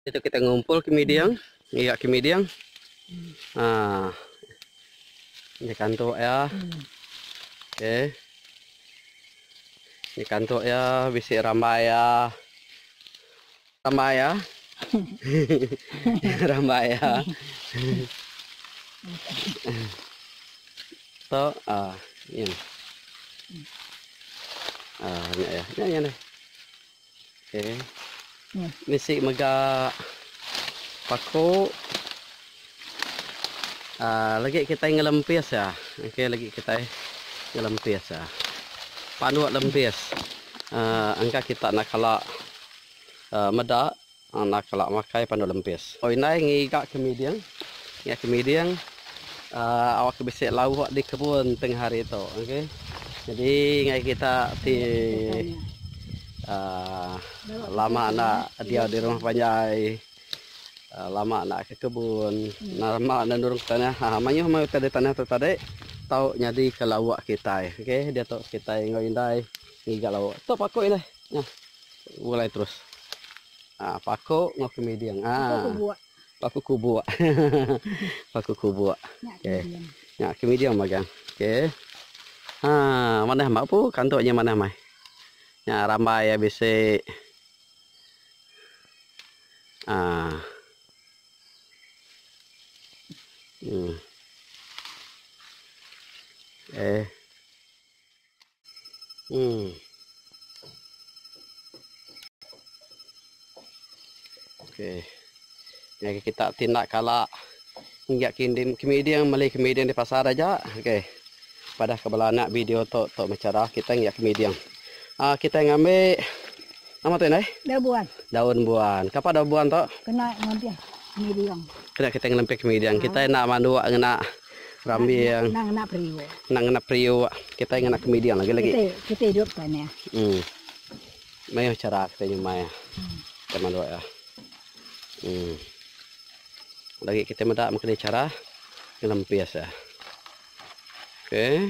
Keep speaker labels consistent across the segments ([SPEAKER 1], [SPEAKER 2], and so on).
[SPEAKER 1] Itu kita ngumpul ke miding, ngiga ke miding. Ha. Ni kantuk ya. Okey. Ni kantuk ya bisi rambai ya. Rambai ya. rambai ya. to ah ni. Ah, ni ya. Ni ya. Okey. Bisi mega paku. Uh, lagi kita ngelempis ya. Okey, lagi kita ngelempis ya. Panduk lempis. Uh, ah, angka kita nak kala uh, ah, meda Anak kala makai pandu lempis. Oi indai ngiga ke miding. Ngiga ke miding aaa awak ke bisi lawu awak di kebun tengah hari tu okey. Jadi ngagai kita ti aaa lama enda diau di rumah panjai aaa lama enda ke kebun lama enda nurung ke tanah aaa mayuh meh utai di tanah tu tadi tau nyadi ke lawu kitai okey. Diatu kitai enggau indai ngiga lawu. Tu paku indai. Nyah. Ulai terus. Ha, paku enggau kemiding. Ha. Paku kubuk. Paku kubuk. paku kubuk. Okey. Nya kemiding magang. Okey. Ha, manah mak pu kantuknya manah mai. Nya rambai ya bisi. Ha. Hmm. Eh. Hmm. Okey. Yang kita tindak kala hingga kindim kemiding meli kemiding di pasar aja. Okey. Padah ke bela anak video tu tu macam dah kita hingga kemiding. Ah uh, kita ngambil nama tu nai? Daun buan. Daun buan. Kapa daun buan tu? Kena ngambil kemiding. Kena kita ngelempih kemiding. Kita nak manduk ngena Rambi yang nang ngena periuk. Nang ngena periuk. Kita ngena kemidi yang lagi-lagi. Kita, kita hidup kan ya. Hmm. Mayuh cara kita nyumai ya. Hmm. Kita manduk ya. Hmm. Lagi kita meda mengkini cara ngelempis ya. Okay.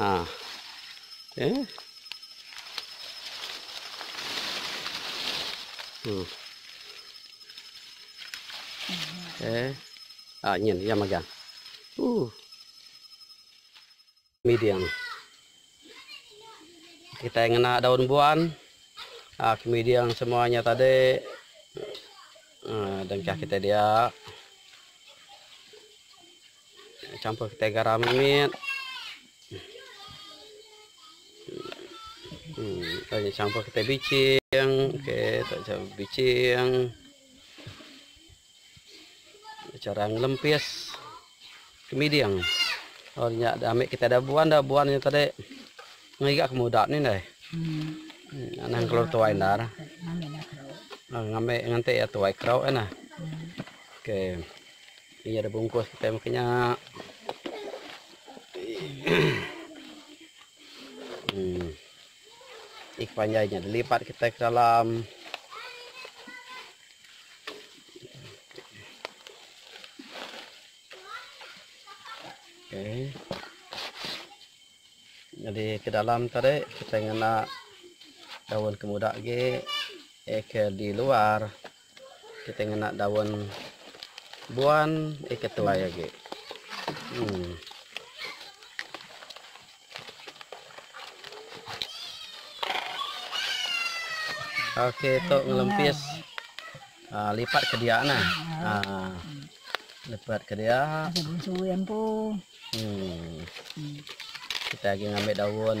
[SPEAKER 1] Ah. Eh. Hmm. Eh. Ah, nyen ya magang. Uh. Medium. Kita ngena daun buan. Ah, medium semuanya tadi. Ah, dengkah kita dia. Campur kitai garam mit. Hmm, campur kitai bicing. Okey, tak campur bicing. Cara ngelempis kemiding. Oh, nya dah ambil kita dah buan dah buan nya tadi. Ngiga ke muda ni dai. Hmm. Anang keluar tuai ndar. Ngambil nganti ya tuai kerau kan. Okey. Ni ada bungkus kitai makan nya. Hmm. Ik panjai nya dilipat kitai ke dalam. Okay. Jadi ke dalam tadi kita ngena daun kemuda lagi eh ke di luar. Kita ngena daun buan eh ke tuai agi. Hmm. Okey tu ngelempis uh, lipat ke dia nah. Ha. Uh, lipat ke dia. Suwi empu. Hmm. Kita lagi ngambil daun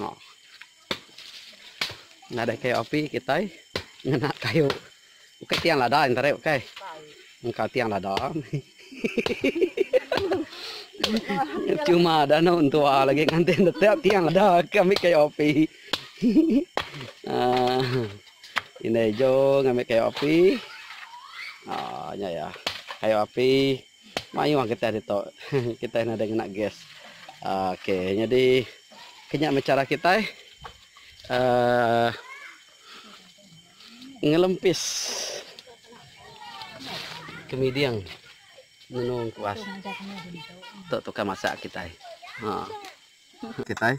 [SPEAKER 1] Ha. Nadai kayu api kitai ngena kayu. Bukai tiang lada enter ai bukai. Engka tiang lada. Cuma ada no tua lagi ngantin tetap tiang ada kami kayu api. Ah. Ini jo ngambil kayu api. Ah, nya ya. Kayu api. Mayuh kitai ditu kitai nadai ngena gas. Ok nyadi kinya meh chara kitai uhh ngelempis kemiding ngenung kuas tu tukar masak kitai. Uhh. Kitai